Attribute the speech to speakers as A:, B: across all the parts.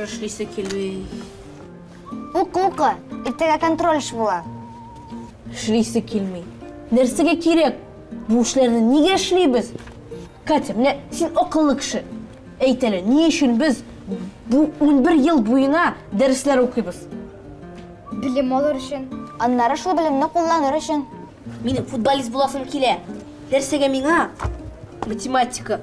A: эшлисе килми. Бу кукла, иртәгә контрольш була. Эшлисе килми. Нәрсәгә кирәк? Бу эшләрне нигә эшлибез? Катя, менә син акыллы кеше. Әйт әле, ни өчен без бу унбер ел буена дәресләр укыйбыз? Белем алыр өчен. Аннары шул белемне кулланыр өчен. Минем футболист буласым килә. Нәрсәгә миңа? Математика.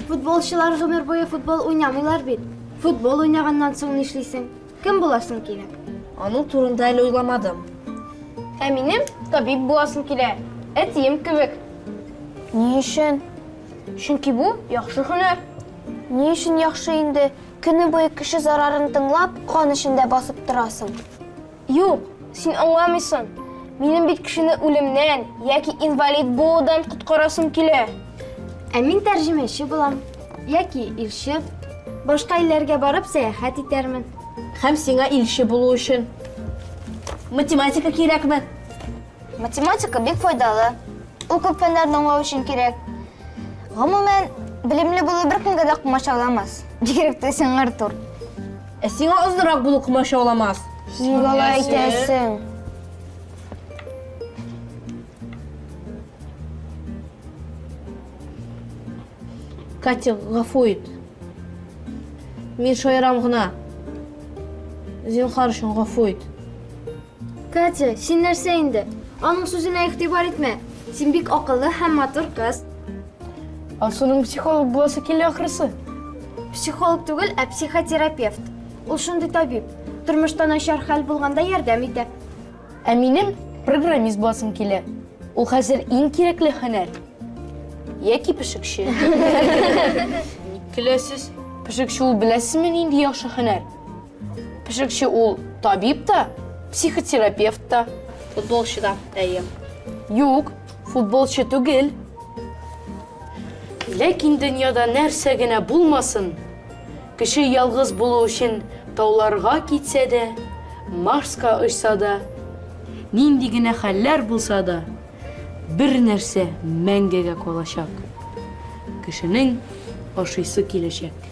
A: Футболчылар гомер буе футбол уйнамыйлар бит. Футбол уйнаганнан соң нишлисең? Кем буласың кирәк? Аның турында әле уйламадым. Ә минем табиб буласым килә. Әтием кебек. Ни өчен? Чөнки бу яхшы һөнәр. Ни өчен яхшы инде? Көне буе кеше зарарын тыңлап, кан эчендә басып торасың. Юк, син аңламыйсың. Минем бит кешене үлемнән яки инвалид булудан коткарасым килә. Ә мин тәрҗемәче булам. Яки илче. Башка илләргә барып сәяхәт итәрмен. Һәм сиңа илче булу өчен математика кирәкме? Математика бик файдалы. Ул күп фәннәрне аңлау өчен кирәк. Гомумән, белемле булу беркемгә дә комачауламас. Бигрәк тә сиңа, Артур. Ә сиңа озынрак булу комачауламас. Син алай әйтәсең. Катя, гафу ит. Мин шаярам гына. Зинхар өчен гафу ит. Катя, син нәрсә инде? Аның сүзенә игътибар итмә. Син бик акыллы һәм матур кыз. Алсуның психолог буласы килә ахрысы. Психолог түгел, ә психотерапевт. Ул шундый табиб. Тормышта начар хәл булганда ярдәм итә. Ә минем программист буласым килә. Ул хәзер иң кирәкле һөнәр. Яки пешекче. Ник көләсез? Пешекче ул беләсезме нинди яхшы һөнәр? Пешекче ул табиб та, психотерапевт та. Футболчы да, әйе. Юк, футболчы түгел. Ләкин дөньяда нәрсә генә булмасын, Кеше ялгыз булу өчен тауларга китсә дә, Марска очса да, нинди генә хәлләр булса да, бер нәрсә мәңгегә калачак, кешенең ашыйсы киләчәк.